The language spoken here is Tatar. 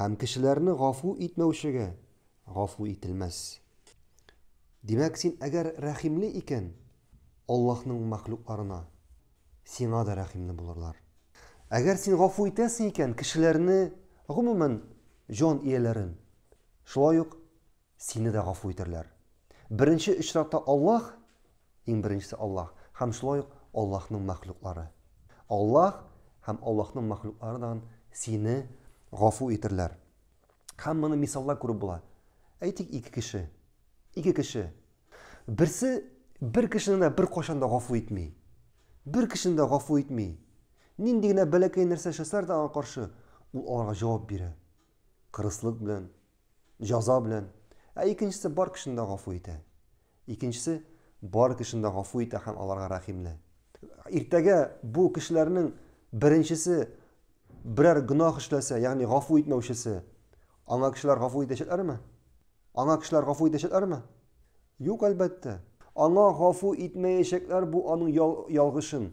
Һәм кешеләрне гафу итмәүчегә гафу ителмәс. Димәк, син әгәр рәхимле икән, Аллаһның мәхлукларына, сиңа да рәхимле булырлар. Әгәр син гафу итәсең икән кешеләрне, гомумән, җан ияләрен, шулай ук Сине дә гафу итәрләр. Беренче очракта Аллаһ, иң беренчесе Аллаһ, һәм шулай ук Аллаһның мәхлуклары. Аллаһ һәм Аллаһның мәхлуклары да сине гафу итәрләр. Һәм моны мисалда күреп була. Әйтик, ике кеше. Ике кеше. Берсе бер кешене дә беркайчан да гафу итми. Бер кешене дә гафу итми. Нинди генә бәләкәй нәрсә эшләсәләр дә аңа каршы, ул аларга җавап бирә. Кырыслык белән, җаза белән, ә икенчесе бар кешене дә гафу итә. Икенчесе бар кешене дә гафу итә һәм аларга рәхимле. Иртәгә бу кешеләрнең беренчесе берәр гөнаһ эшләсә, ягъни гафу итмәүчесе, аңа кешеләр гафу итәчәкләрме? Аңа кешеләр гафу итәчәкләрме? Юк, әлбәттә. Аңа гафу итмәячәкләр, бу аның ялгышын